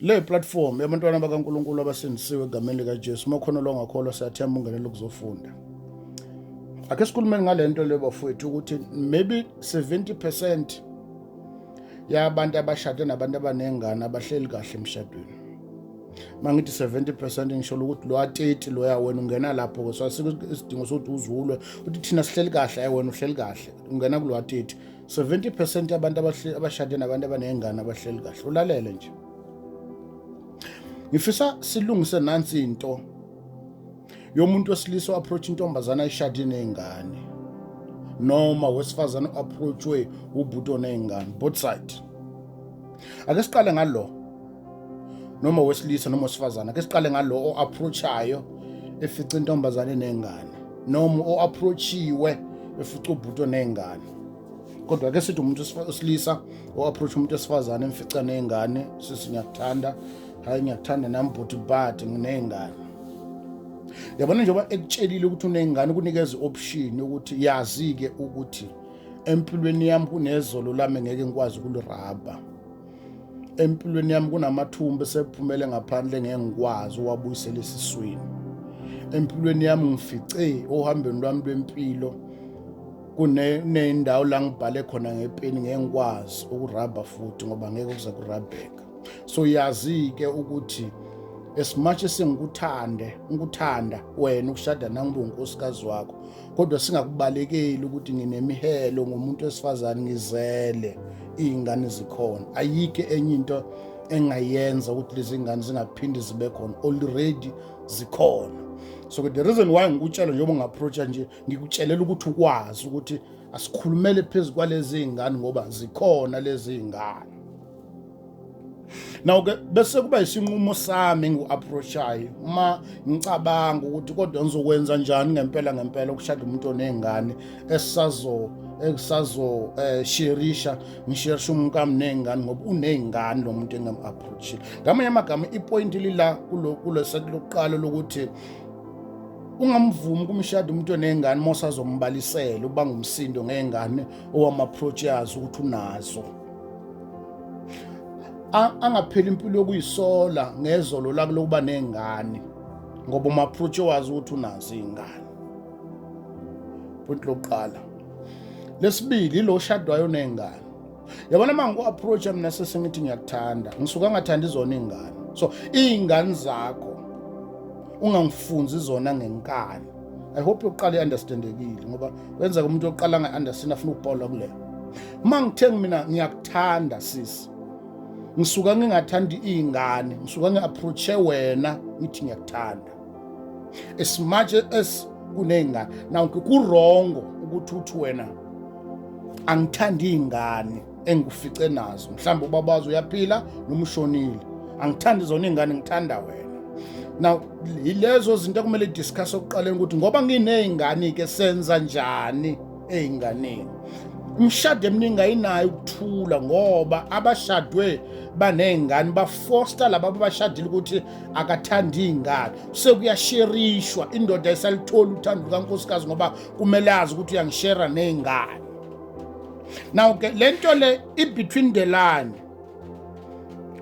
Le platform yabantwana bakaNkulunkulu abasindisiwe egameni likaJesu, uma khona longakholwa siyathemba ungenele ukuzofunda. Ake sikhulumeni ngale nto le bafowethu ukuthi maybe 70% yabantu abashade nabantu abanengane abahleli kahle emshadweni. mangithi 70% ngisholo ukuthi lo ateti loya wena ungena lapho ke so asikho isidingo sokuthi uzulwe uthi thina sihleli kahle ayi wena uhleli kahle ungena kulo ateti 70 percent yabantu abashade nabantu abaney'ngane abahleli kahle ulalele nje ngifisa silungise nansi into yomuntu wesilisa o-approach intombazana ayishade ney'ngane noma wesifazane o-approachwe ubhuti oney'ngane both side ake siqale ngalo noma wesilisa noma wesifazane ke siqale ngalo o-approachayo efica intombazane nengane noma o-approachiwe efica ubhuti oney'ngane kodwa ke sithi umuntu wesilisa o-approach umuntu wesifazane emfica ney'ngane sisi ngiyakuthanda hhayi ngiyakuthanda nami bhuti bade nginey'ngane yabona njengoba ekutshelile ukuthi uney'ngane kunikeza i-option ukuthi yazi-ke ukuthi empilweni yami kunezolo lami ngeke ngikwazi ukulirabha empilweni yami kunamathumba esephumele ngaphandle ngeke ngikwazi uwabuyisela esiswini empilweni yami ngifice ohambeni lwami lwempilo kunendawo la ngibhale khona ngepeni ngeke ngikwazi ukurabha futhi ngoba ngeke kuze kurabheka so yazi-ke ukuthi as much esengikuthande ngikuthanda wena ukushada nangibe unkosikazi wakho kodwa singakubalekeli ukuthi nginemihelo ngomuntu wesifazane ngizele iy'ngane zikhona ayikho enye into engayenza ukuthi lezi ngane zingaphinde zibe khona already zikhona so the reason why ngikutshela njengoba ungaapproacha nje ngikutshelela ukuthi ukwazi ukuthi asikhulumele phezu kwalezi ngane ngoba zikhona lezi ngane Now ke bese kuba isinqumo sami ngiu-approachayo uma ngicabanga ukuthi kodwa ngizokwenza njani ngempela ngempela ukushada umuntu onezingane esisazo esazo eh, sherisha ngisherisha umkami nezingane ngoba unezingane lo muntu engam-approachile ngamanye amagama ipoint lila kulo seti lokuqala lokuthi ungamvumi kumshado umuntu onezingane uma usazombalisela ukuba ngumsindo ngezingane owama-approach yazo ukuthi unazo angapheli impilo yokuyisola ngezolo lakho lokuba nengane ngoba umaphrutshe wazi ukuthi unazo izingane point lokuqala lesibili ilo shadwayo nezingane yabona uma ngiku-approacha mina sesengithi ngiyakuthanda ngisuke angathandi izona iy'ngane so iy'ngane zakho ungangifunzi zona ngenkani i hope yokuqala i-understandekile ngoba kwenzeka umuntu yokuqala angayi-understand afuna ukupola kuleyo uma ngithengi mina ngiyakuthanda sisi ngisuka ngingathandi iy'ngane ngisuka ngi-approache wena ngithi ngiyakuthanda as much as kuney'ngane now kurongo ukuthi uthi wena angithandi iy'ngane engikufice nazo mhlawumbe ubaba wazo uyaphila noma ushonile angithandi zona iy'ngane ngithanda wena now yilezo zinto ekumele discuss okuqaleni ukuthi ngoba nginey'ngane-ke senza njani ey'nganeni imishado eminingi ayinayo ukuthula ngoba abashadwe baney'ngane bafosta laba abashadile ukuthi akathandi iy'ngane sekuyasherishwa indoda esalitholi uthando lukankosikazi ngoba kumele azi ukuthi uyangishera ney'ngane now ke le nto le ibetween the line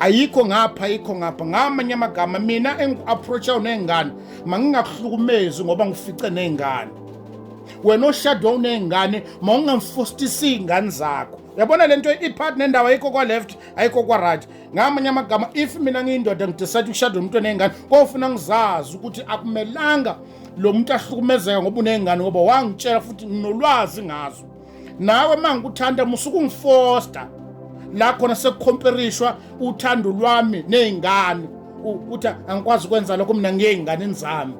ayikho ngapha ayikho ngapha ngamanye amagama mina engiku-approachayo ney'ngane mangingakuhlukumezi ngoba ngifice ney'ngane wena oshade wawuney'ngane ma ungamfostisi iy'ngane zakho yabona le nto ipart nendawo ayikho kwa-left ayikho kwa-right ngamanye amagama if mina ngiyindoda ngidesayide ukushada umuntu oney'ngane kofuna ngizazi ukuthi akumelanga lo muntu ahlukumezeka ngoba uney'ngane ngoba wangitshela futhi nginolwazi ngazo nawe uma ngikuthanda musuke ungifosta la khona sekukhomperishwa uthando lwami ney'ngane ukuthi angikwazi ukwenza lokho mina ngiyey'nganeni zami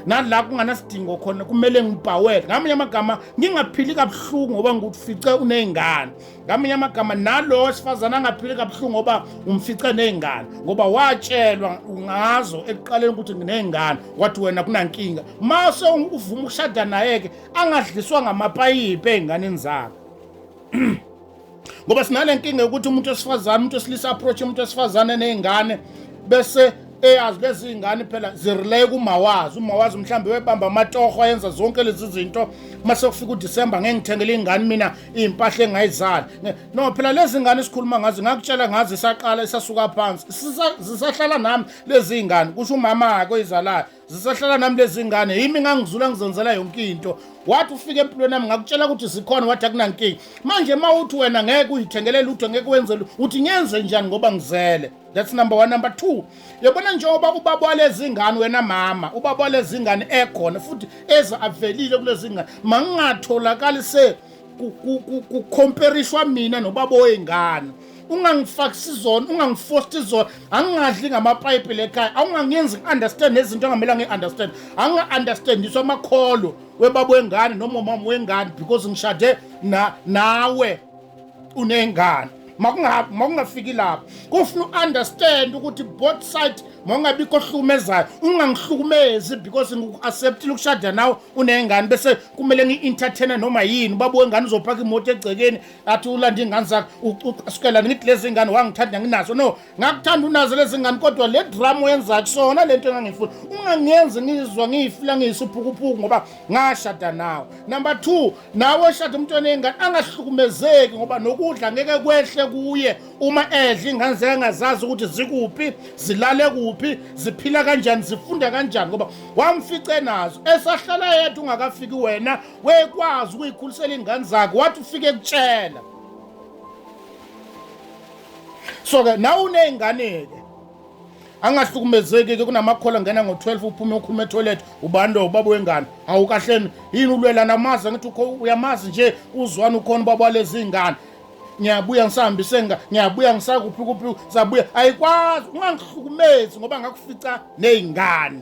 nala kunganasidingo khona kumele ngibhawele ngamanye amagama ngingaphili kabuhlungu ngoba ngikufice uney'ngane ngamanye amagama nalo wesifazane angaphili kabuhlungu ngoba umfice nezingane ngoba watshelwa ngazo ekuqaleni ukuthi nginezingane wathi wena kunankinga mase uvuma ukushada naye ke angadliswa ngamapayipi ezinganeni zakhe ngoba sinale nkinga yokuthi umuntu wesifazane umuntu wesilisa approach umuntu wesifazane nezingane bese eyazi lezi zingane phela zireleye kumawazi umawazi mhlawumbe webamba amatoho ayenza zonke lezi zinto uma sekufika udisemba ngeke ngithengele ingane mina iy'mpahla engayizali no phela lezi ngane esikhuluma ngazo ngakutshela ngazo isaqala isasuka phansi zisahlala nami lezi y'ngane kusho umama-ke oyizalayo zisahlala nami lezi ngane yimi ngangizula ngizenzela yonke into wathi ufike empilweni yami ngakutshela ukuthi zikhona wathi akunankinga manje uma uthi wena ngeke uyithengelele lutho ngeke wenze uthi ngenze njani ngoba ngizele that's number one number two yabona njengoba ubaba walezi ngane wena mama ubaba walezi ngane ekhona futhi eza avelile kulezi ngane mangingatholakali se kukhomperishwa mina nobaba oyingane ungangifakisi zona ungangifosti zona angingadli ngamapayipi lekhaya awungangenzi ngi-understand nezinto angamela ngi-understand anginga-understandiswa amakholo webaba wengane nomomama wengane because ngishade nawe unengane makungabi makungafiki lapho kufuna u-understand ukuthi both side mawungabikho ohlukumezayo ungangihlukumezi because ngiku-acceptile ukushada nawe unengane bese kumele ngi-entertaine noma yini ubaba wengane uzophaka imoto egcekeni athi ulanda iy'ngane zakhe usukelani ngithi lezi ngane wangithanda nginazo no ngakuthanda unazo lezi ngane kodwa le drama oyenza kusona le nto engangifuna ungangenzi ngizwa ngiyifila ngiyisuphukuphuku ngoba ngashada nawe number two nawe oshada umntwana eyingane angahlukumezeki ngoba nokudla ngeke kwehle kuye uma edla ingane zekangazazi ukuthi zikuphi zilale kuphi ziphila kanjani zifunda kanjani ngoba wamfice nazo esahlala yedwa ungakafiki wena wekwazi ukuyikhulisela iy'ngane zakhe wathi ufike kutshela so ke nawe uney'ngane-ke angahlukumezeki-ke kunamakhola ngena ngo-12 uphume ukhuluma etoilet ubando ubaba wengane hawu kahleni yini ulwela namazi angithi uyamazi nje uzwani ukhona ubaba walezi iy'ngane ngiyabuya ngisahambise nga ngiyabuya ngisakuphi kuphi sabuya ayikwazi ungangihlukumezi ngoba ngakufica ney'ngane